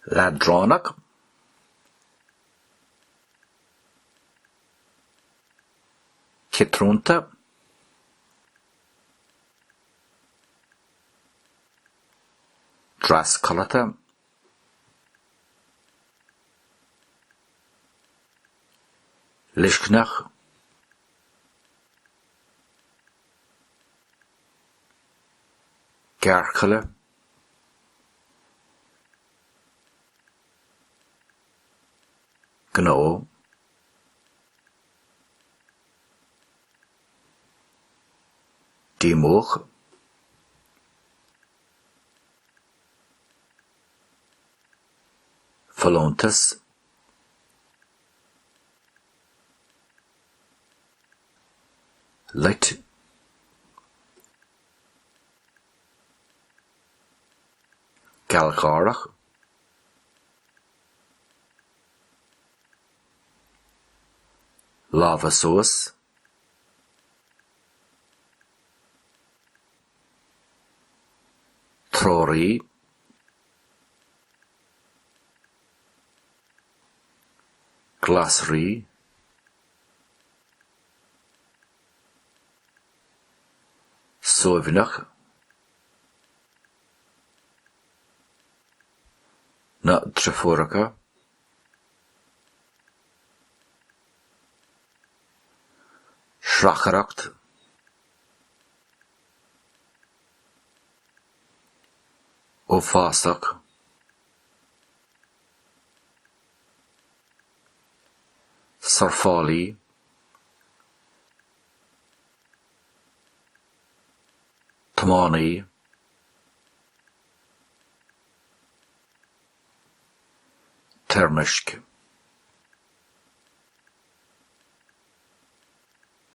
leadránach. ciotrúnta. trascodlata. Leicneach. Gearrchaile. Gnó. Díomuach. folúntas, loit, gealgháireach, lámha suas, Treoraí, Glasraí, Suaimhneach, Na Deirfiúracha, sracaireacht, uafásach, surfálaí, tiománaí. toirmisc.